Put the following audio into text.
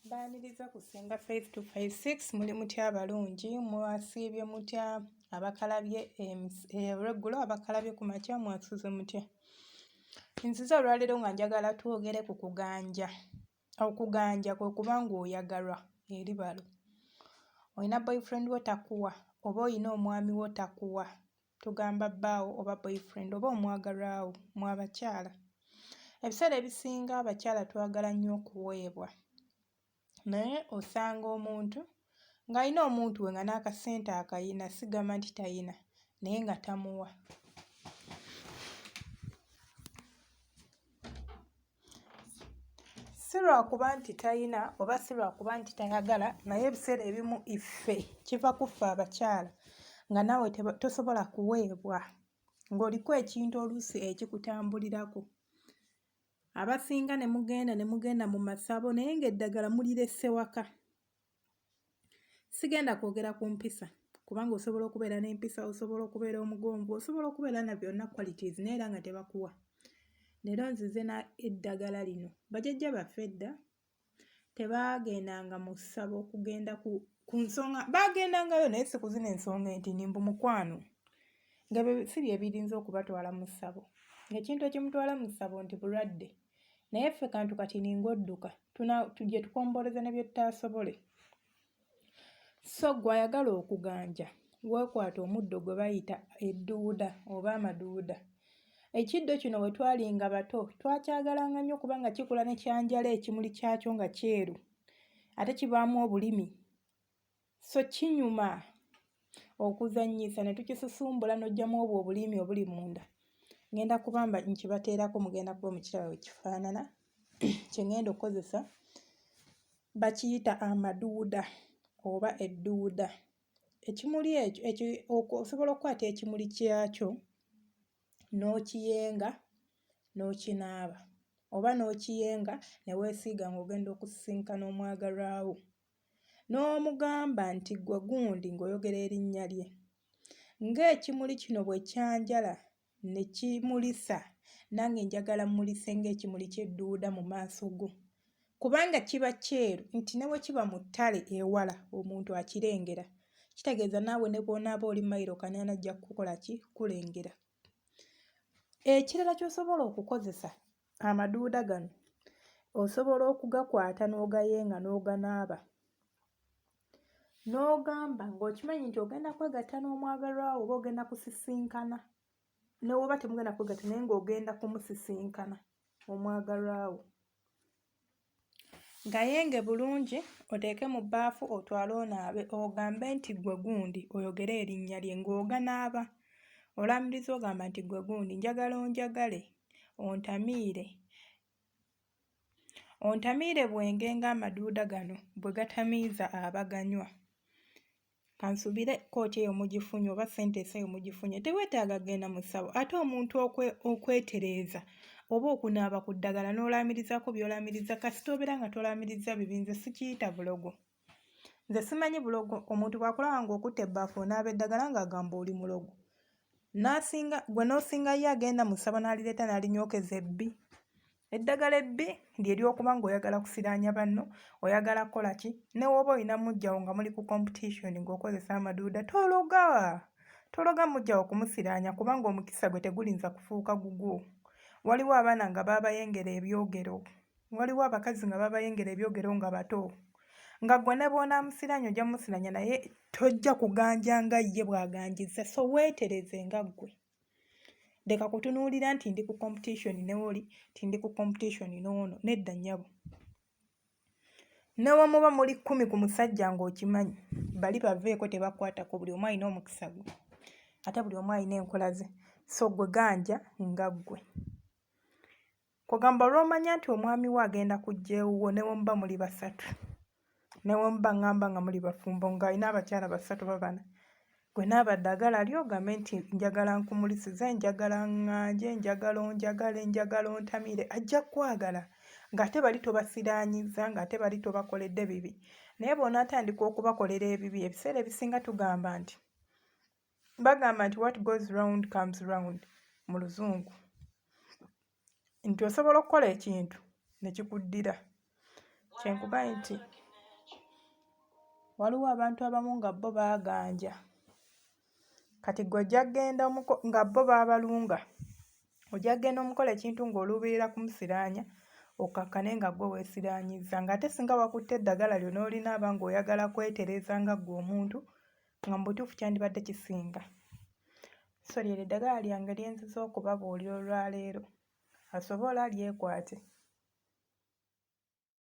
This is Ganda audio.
mbaaniriza ku simba 5256 muli mutya abalungi mwasiibye mutya abakalabye olweggulo eh, abakalabye ku makya mwasuze mutya nziza olwaleero nga njagala twogere ku kuganja Okuganja kwe kuba ng'oyagalwa eri balo. Olina boyfriend wo takuwa oba olina omwami wo takuwa, tugamba bbaawo oba boyfriend oba omwagalwa wo. Mmwe abakyala ebiseera ebisinga abakyala twagala nnyo okuweebwa naye osanga omuntu... ng'alina omuntu we nga n'akasente akalina si kugamba nti talina naye nga tamuwa. Si lwakuba nti talina oba si lwakuba nti tayagala naye ebiseera ebimu iffe kiva ku ffe abakyala nga naawe tosobola kuweebwa ng'oliko ekintu oluusi ekikutambulirako. Abasinga ne mugenda ne mugenda mu masabo naye ng'eddagala mulirese waka. Sigenda kwogera ku mpisa kubanga osobola okubeera n'empisa, osobola okubeera omugonvu, osobola okubeera na byonna qualities naye era nga tebakuwa. Leero nzize na eddagala lino. Bajajja baffe edda tebaagendanga mu ssabo kugenda ku ku nsonga baagendangayo naye si ku zino ensonga enti nimbu mukwano nga si bye birinza okubatwala mu ssabo ng'ekintu ekimutwala mu ssabo nti bulwadde naye ffe kantu kati ninga odduka gye tukomboleza ne bye tutaasobole so gwe ayagala okuganja weekwata omuddo gwe bayita edduuda oba amaduuda ekiddo kino we twali nga bato twakyagalanga nnyo kubanga kikula ne kyanjala ekimuli kyakyo nga kyeru ate kibaamu obulimi So kinyuma okuzannyisa ne tukisusumbula n'oggyamu obwo obuliimi obuli munda. Ngenda kuba mba nkibateerako mugenda kuba mukiraba bwe kifaanana kye ngenda okukozesa bakiyita amaduuda oba edduuda. Ekimuli ekyo ekyo osobola okukwata ekimuli kyakyo n'okiyenga n'okinaaba oba n'okiyenga ne weesiiga ng'ogenda okusisinkana omwagalwa wo. n'omugamba nti, Ggwe gundi, ng'oyogera erinnya lye, ng'ekimuli kino bwe kyanjala ne kimulisa, nange njagala mmulise ng'ekimuli ky'edduuda mu maaso go. Kubanga kiba kyeru nti ne bwe kiba mu ttale ewala omuntu akirengera. Kitegeeza naawe ne bw'onaaba oli mayiro kanaana ajja kukukola ki? Kulengera. Ekirala ky'osobola okukozesa Amaduuda gano osobola okugakwata n'ogayenga n'oganaaba n'ogamba ng'okimanyi nti ogenda kwegatta n'omwagalwa wo oba ogenda kusisinkana newoba temugenda kwegatta naye ng'ogenda kumusisinkana omwagalwa wo Gayenge bulungi oteeke mu bbaafu otwale onaabe ogambe nti ggwe gundi oyogere erinnya lye ng'oganaaba olaamiriza ogamba nti ggwe gundi njagala onjagale ontamiire ontamiire bwenge ng'amaduuda gano bwe gatamiiza abaganywa. kansubire kooti eyo mugifunye oba sentensi eyo mugifunye teweetaaga genda mu ssabo ate omuntu okwetereeza oba okunaaba ku ddagala n'olaamirizaako by'olaamiriza kasita obeera nga tolaamiriza bibi nze sikiyita bulogo nze simanyi bulogo omuntu bw'akulaba ng'okutta ebbaafu onaaba eddagala ng'agamba oli mulogo n'asinga gwe n'osinga ye agenda mu ssabo n'alireeta n'alinyookeza ebbi Eddagala ebbi lye ly'okuba ng'oyagala kusiraanya banno, oyagala kukola ki, ne w'oba olina muggyawo nga muli ku kompitishoni ng'okozesa amaduuda tologa! Tologa muggyawo kumusiraanya kubanga omukisa gwe tegulinza kufuuka gugwo. Waliwo abaana nga baabayengera ebyogero, waliwo abakazi nga baabayengera ebyogero nga bato, nga ggwe ne bw'onaamusiraanya ojja musiraanya naye tojja kuganja nga ye bw'aganjizza, so weetereze nga ggwe. leka kutunuulira nti ndi ku competition newoli ti ndi ku competition noono nedda nyabo newamuba muli kkumi ku musajja ng'okimanyi bali baveeko tebakwatako buli omu alina omukisa gwe ate buli omu alina enkola ze so gwe ganja nga ggwe Kwogamba olwomanya nti omwami wo agenda kujja ewuwo newemuba muli basatu newemuba ngamba nga muli bafumbo nga alina abakyala basatu oba bana gwe naabadde agala ali ogambe nti njagala nkumulisize njagala nganje njagala onjagale njagala ontamire ajja kukwagala ng'ate bali tobasiraanyiza ng'ate bali tobakoledde bibi naye bw'onaatandika okubakolera ebibi ebiseera ebisinga tugamba nti bagamba nti what goes round comes round mu luzungu nti osobola okukola ekintu ne kikuddira kyenkuba nti waliwo abantu abamu nga bo baaganja kati gwe ojja kugenda nga bo baabalunga ojja kugenda omukola ekintu ng'oluubirira kumusiraanya okkakkane nga gwe weesiraanyizza ng'ate singa wakutte eddagala lyo n'olinaaba ng'oyagala kwetereeza nga gwe omuntu nga mu butuufu kyandibadde kisinga. So lyeryo eddagala lyange lye nzize okubabuulira olwaleero, asoobe ola lyekwate.